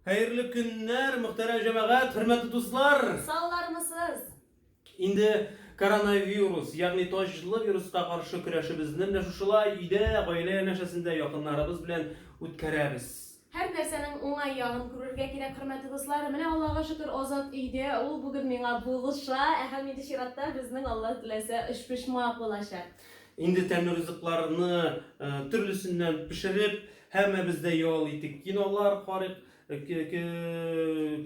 Хәерле көннәр, мөхтәрәм җәмәгать, хөрмәтле дуслар! Саулармысыз? Инде коронавирус, ягъни таҗлы вируска каршы көрәшебезне менә шушылай өйдә, гаилә янәшәсендә якыннарыбыз белән үткәрәбез. Һәр нәрсәнең уңай ягын күрергә кирәк, хөрмәтле дуслар. Менә Аллага шөкер, Азат өйдә, ул бүген миңа булыша, ә һәм инде чиратта безнең, Алла теләсә, өчпочмак булачак. Инде тәмле ризыкларны төрлесеннән пешереп, Һәммәбез дә ял итик, кинолар карыйк,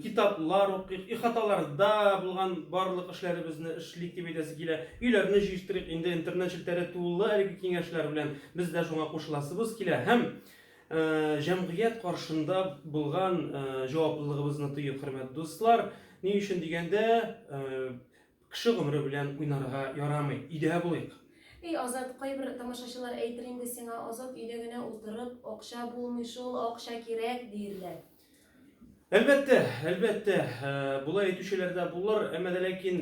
китаплар укыйк, ихаталарда булган барлык эшләребезне эшлик дип әйтәсе килә. Өйләрне җыештырыйк, инде интернет челтәре тулы әлеге киңәшләр белән. Без дә шуңа кушыласыбыз килә һәм җәмгыять каршында булган җаваплылыгыбызны тоек, хөрмәт дуслар. Ни өчен дигәндә, Кеше гомере белән уйнарга ярамый, өйдә булыйк. Эй Азат, кайбер тамашачылар әйтер инде сиңа, Азат өйдә генә утырып, акча булмый шул, акча кирәк, диерләр. Әлбәттә, әлбәттә, болай әйтүчеләр дә булыр, әмма дә ләкин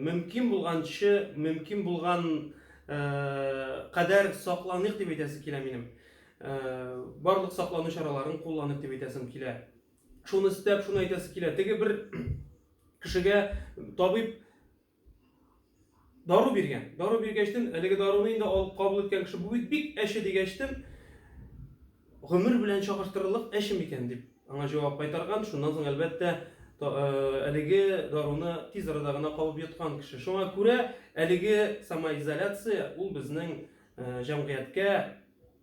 мөмкин булганчы, мөмкин булган кадәр сакланыйк дип әйтәсе килә минем. Барлык саклану чараларын кулланыйк дип әйтәсем килә. Шуны өстәп, шуны әйтәсе килә. Теге бер кешегә табиб дару биргән. Дару биргәчтен, әлеге даруны инде алып кабул иткән кеше бу бит бик әче дигәчтен, гомер белән чагыштырырлык әче микән дип аңа җавап кайтарган. Шуннан соң әлбәттә э, әлеге даруны тиз арада гына кабып йоткан кеше. Шуңа күрә әлеге самоизоляция ул безнең э, җәмгыятькә